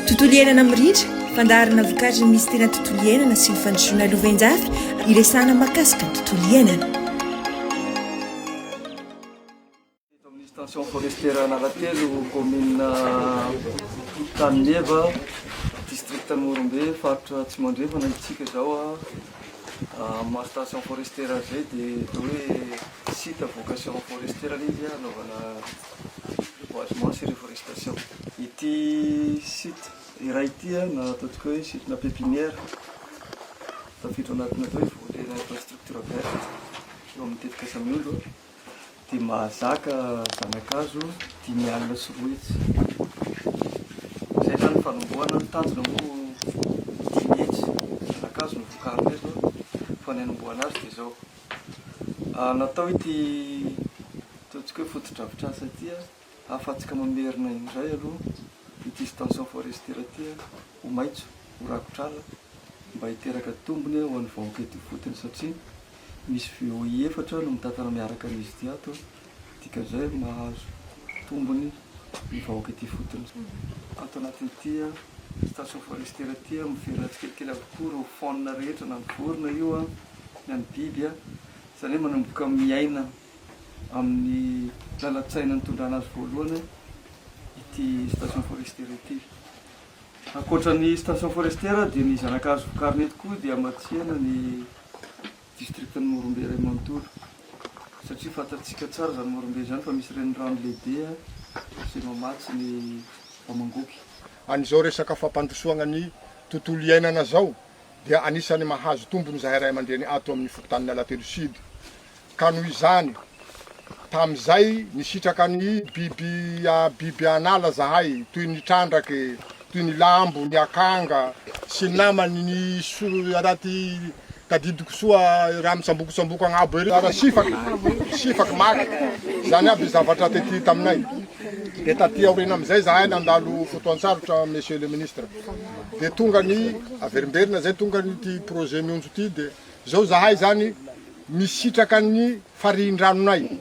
Tontolo iainana mirindra, fandaharana vokatry ny Minisiteran'ny Tontolo iainana sy ny Fandrosoana Lovainjafy, iresahana mahakasika ny tontolo iainana. Eto amin'ny station forestière Analatelo, commune Antanimeva, district Morombe, faritra Atsimo Andrefana isika izao. Amin'ny maha station forestière azy izay dia atao hoe site à vocation forestière ilay izy, anaovana Reboisement sy reforestation. Ity site iray ity na ataontsika hoe site na pepinière tafiditra ao anatin'ny atao hoe volet infrastructure verte eo amin'ny tetikasany omby dia mahazaka zana-kazo dimy alina sy roa hetsy. Izay izany ny fanombohana, ny tanjona moa dimy hetsy zana-kazo no vokarina eto fa ny hanombohana azy dia izao. Natao ity ataontsika hoe fotodrafitrasa ity ahafahantsika mamerina indray aloha ity station forestière ity ho maitso, ho rakotr'ala mba hiteraka tombony ho an'ny vahoaka ety ifotony satria misy VOI efatra no mitatana miaraka an'izy ity ato Dikan'izay hoe mahazo tombony ny vahoaka ety ifotony. Ato anatin'ity station forestière ity, miverina tsikelikely avokoa ireo faune rehetra, na ny vorona io, na ny biby. Izany hoe manomboka miaina amin'ny lalan-tsaina nitondrana azy voalohany ity station forestière ity. Ankoatra ny station forestière dia ny zana-kazo vokariny eto koa dia hamatsiana ny Distrikan'i Morombe iray manontolo, satria fantatsika tsara izany Morombe izany fa misy renirano lehibe izay mamatsy ny Bamangopy. An'izao resaka fampandrosoagna ny tontolo iainana izao dia anisan'ny mahazo tombony izahay ray aman-dreny ato amin'ny fokontanin'i Alatelo Sud. Ka noho izany, tamin'izay nisitraka ny biby biby an'ala izahay toy ny trandraky, toy ny lambo, ny akanga sy ny namany, ny soa raha ty tadidiko soa raha mitsambokotsamboka agnabo ery, raha sifaky, sifaky maty, zany aby zavatra tety taminay, de taty aoriana amizay zahay nandalo fotoantsarotra Monsieur le Ministre, de tonga ny averimberina zay tonga ny ty projet mionjo ty de zao zahay zany misitraka ny farihindranonay.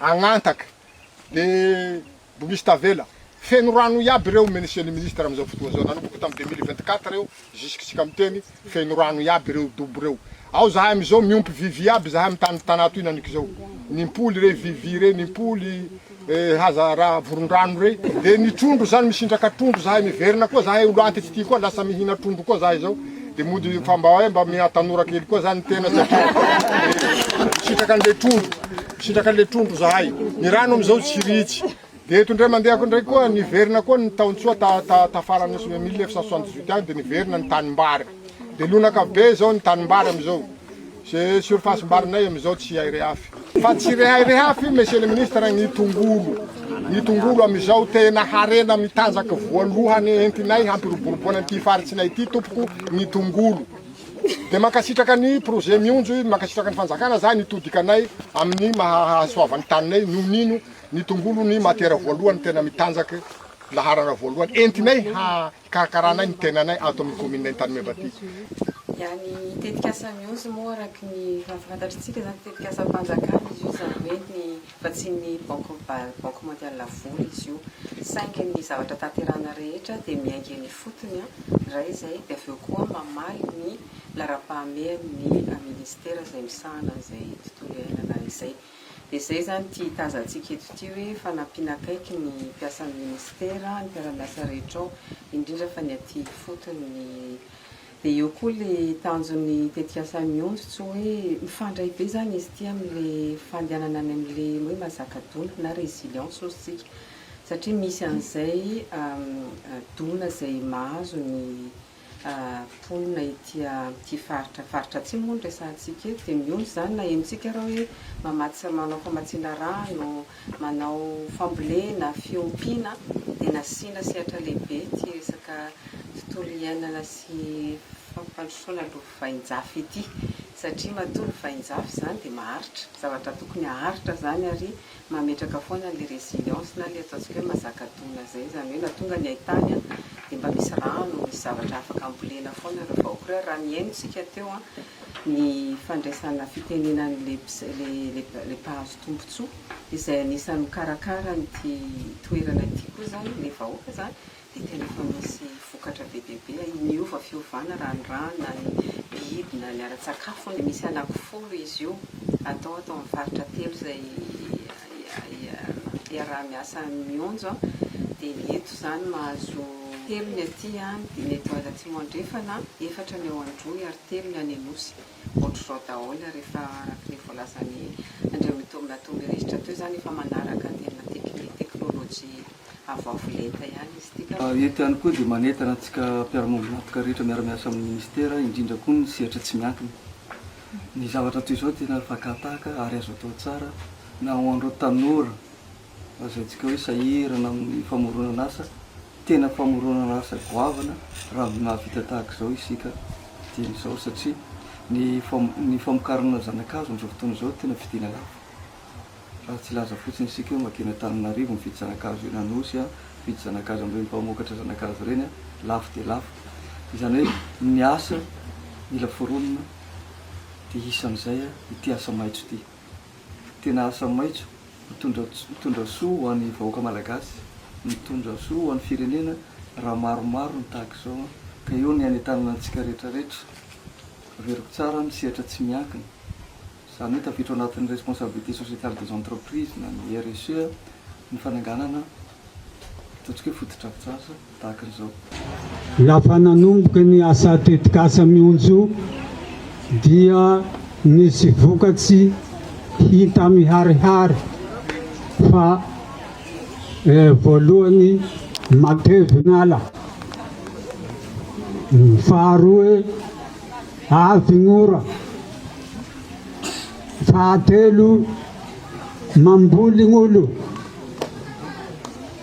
Agnantaka de mbo misy tavela. Feno rano iaby ireo monsieur le ministre amizao fotoa zao nanomboka tam deux mille vingt quatre eo jusqu'iska miteny feno rano iaby ireo dobo ireo. Ao zahay amizao miompy vy vy iaby zahay am tany Tana toy naniky zao. Ny mpoly re vy vy re ny mpoly haza ra vorondrano re. De ny trondro zany misindraka trondro zahay miverina koa zahay olo antitsy ty koa lasa mihina trondro koa zahay zao. Dia mody fa mba hoe mba miha tanora kely koa zany tena satria misitraka an'ilay trondro, misitraka an'ilay trondro zahay. Ny rano amin'izao tsy ritsy. Dia eto indray mandehako indray koa niverina koa ny taontsoa ta ta tafarany ny 1978 any dia niverina ny tanimbary. Dia lonaka be izao ny tanimbary amin'izao. Ze surface mbarinay amizao tsy hay rehafy. Fa tsy rehay rehafy Monsieur le Ministre ny tongolo. Ny tongolo amizao tena harena mitanjaka voalohany entinay hampiroboroboana ity faritsinay ity tompoko ny tongolo. Dia mankasitraka ny projet mionjo, mankasitraka ny fanjakana za ny todikanay amin'ny maha hahasoavan'ny taninay noho n'ino ny tongolo ny matière voalohany tena mitanjaka laharana voalohany entinay ha Hikarakarànay ny tenanay ato amin'ny kaomininay Antanimeva ity. Dia ny tetikasa Mihozo moa araka ny fahafantatr'tsika izany dia tetikasam-panjakana izy io izany hoe ny vatsian'ny banky banky mondiale vola izy io saingy ny zavatra tanterahana rehetra dia miainga eny ifotony ndray izay dia avy eo koa mamaly ny laharam-pahamehan'ny minisitera izay misahana an'izay tontolo iainana izay. Dia izay izany ity hitazantsika eto ity hoe fanampiana akaiky ny mpiasan'ny Ministera, ny mpiara-miasa rehetra ao, indrindra fa ny aty ifotony. Ny Dia eo koa ilay tanjon'ny tetikasa Mionjo tsy hoe mifandray be izany izy ity amin'ilay fandehanana any amin'ilay hoe mazaka dona na résilience hozy tsika satria misy an'izay dona izay mahazo ny mponina ety amin'ity faritra faritra atsimo moa no resahantsika eto dia mihombo izany na henontsika ara hoe mamatsy manao famatsiana rano, manao fambolena, fiompiana dia nasiana sehatra lehibe ity resaka tontolo iainana sy fampandrosoana lovainjafy ity satria matoa lovainjafy izany dia maharitra, zavatra tokony haharitra izany ary mametraka foana ilay résilience na ilay ataontsika hoe mazaka dona izay, izany hoe na tonga ny haitany dia mba misy rano, misy zavatra afaka ambolena foana ireo vahoaka ireo, ary raha nihaino isika teo ny fandraisana fitenenana ilay mpahazo tombontsoa izay anisan'ny mikarakara an'ity toerana ity koa izany ilay vahoaka izany dia tena efa misy vokatra be dia be, miova fiovana raha ny rano na ny biby na ny ara-tsakafo hono, misy anaky folo izy io atao ato amin'ny faritra telo izay iaraha-miasa mionjo an, dia ny eto izany mahazo telo ny aty an, ny eto atsimo andrefana an, efatra ny ao Androy ary telo ny any Anosy. ohatr'izao daholo ary efa araka ilay voalazan'i Andriamatoa Mitombinato miresitra teo izany efa manaraka tena teknolojia avoavo lenta ihany izy ity. Eto ihany koa dia manentana antsika mpiara-miombon'antoka rehetra miara-miasa amin'ny Ministera indrindra koa ny sehatra tsy miankina. Ny zavatra toy izao tena fakan-tahaka ary azo atao tsara na ho an'ireo tanora lazaintsika hoe sahirana amin'ny famoronan'asa. Tena famoronana asa goavana raha mahavita tahaka izao isika dieny izao satria ny ny famokarana zanakazo amin'izao fotoana izao tena vidiana lafo. Raha tsy hilaza fotsiny isika hoe makeny Antananarivo mividy zanakazo eny Anosy an, mividy zanakazo amin'ireny mpamokatra zanakazo ireny an, lafo dia lafo. Izany hoe ny asa mila foronina dia isan'izay ity asa maitso ity. Tena asa maitso. Mitondra mitondra soa ho an'ny vahoaka malagasy, mitondra soa ho an'ny firenena raha maromaro ny tahaka izao an! Ka eo ny hanentanana antsika rehetra rehetra. Averiko tsara ny sehatra tsy miankina. Izany hoe tafiditra ao anatin'ny responsabilité sociétale des entreprises na ny RSE ny fananganana ataontsika hoe fotodrafitrasa. tahaka an'izao. Lafa nanomboka ny asa tetikasa Mionjo dia nisy vokatsy hita miharihary fa voalohany matevy ny ala, faharoe avy ny ora, fahatelo mamboly ny olo.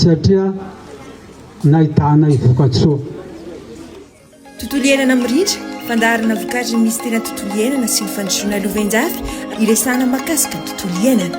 satria nahitanay vokatsoa. Tontolo iainana mirindra, fandaharana vokatry ny Minisiteran'ny Tontolo iainana sy ny Fandrosoana Lovainjafy hiresahana mahakasika ny tontolo iainana.